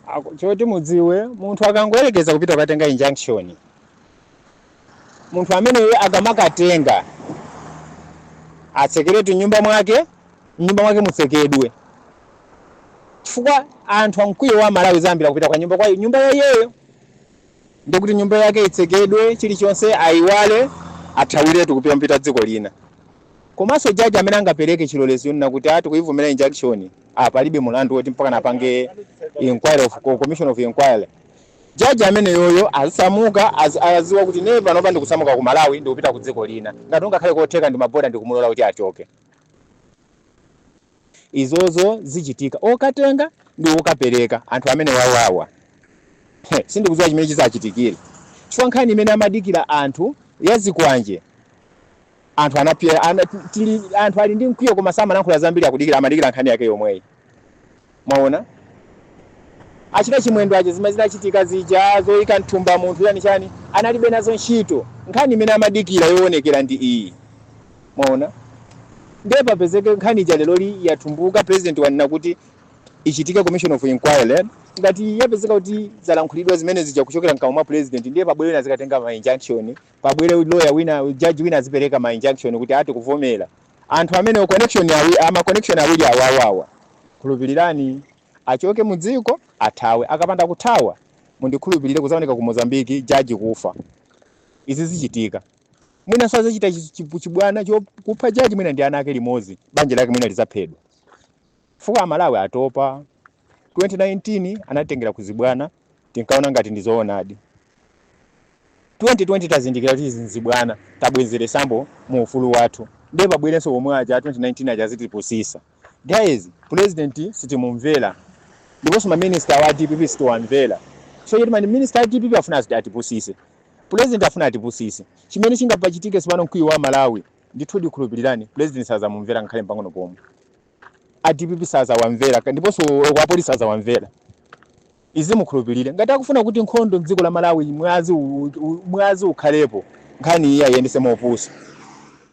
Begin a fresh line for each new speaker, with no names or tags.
Ako- choti mudziwe munthu akangoyerekeza kupita kukatenga injunction munthu ameneyo akamakatenga atsekeretu mnyumba mwake mnyumba mwake mutsekedwe chifukwa anthu amkwiyo a malawi zambira kupita kwa nyumba kwa nyumba ya iyeyo Ndiye kuti nyumba yake itsekedwe, chilichonse aiwale, athawiretu kupita kupita dziko lina. Komanso judge amene angapereke chilolezo yonena kuti ah tikuyivomera injunction, ah palibe mlandu woti mpakana apange inquiry of co- commission of inquiry. Judge ameneyoyo asamuka az- aziwa kuti ine panopa ndikusamuka ku Malawi ndikupita ku dziko lina. Ngati ungakhale kotheka ndi maboda ndikumulola kuti achoke. izozo zichitika okatenga ndi okapereka anthu amenewawawa Heh, sindikudziwa chimene chizachitikire chifukwa nkhani imene amadikira anthu ya zikwanje anthu anapya ana, tili, anthu ali ndi mkwiyo koma samalankhula zambiri akudikira amadikira nkhani yake yomweyi mwaona achita chimwendo aja zimene zinachitika zija zoyika mthumba munthu ujeni chani analibe nazo ntchito nkhani imene amadikira yoonekera ndi iyi Mwaona? Ndiye papezeke nkhani ija leroli yatumbuka, president wanena kuti ichitike commission of inquiry, ngati yapezeka kuti zalankhulidwa zimene zija kuchokera mkamwa mwa president, ndiye pabwere wina azikatenga ma injunction, pabwere lawyer wina, judge wina azipereka ma injunction kuti aah tikuvomera. Anthu amenewo connection awi, ma connection awiri awawawa, khulupilirani, achoke mu dziko, athawe. Akapanda kuthawa, mundikhulupilire, kudzaoneka ku Mozambique judge kufa. Izi zichitika. Mwinanso sadzachita chi- chi- chibwana chokupha jaji mwina ndi ana ake limodzi, banja lake mwina lidzaphedwa. Chifukwa Amalawi atopa. 2019 anatengera kuzibwana, tinkaona ngati ndi zoonadi. 2020 tazindikira kuti izi nzibwana, tabwenzeretsabe mu ufulu wathu. Ndiye pabwerenso omwe aja a 2019 aja azitipusitsa. Guys president sitimumvera ndiponso ma minister awa a dpp sitiwamvera chifukwa choti ma minister a dpp afuna as atipusise president afuna atipusise chimene chingapachitike tsopano mkwiyo wa amalawi ndithu ndikhulupilireni president sazamumvera ngakhale mpang'ono pomwe a dpp sazawamvera ka- ndiponso oko apolisi sazawamvera izi mukhulupilire ngati akufuna kuti nkhondo mdziko la malawi mwazi u- u- mwazi ukhalepo nkhani iyi ayendese mopusa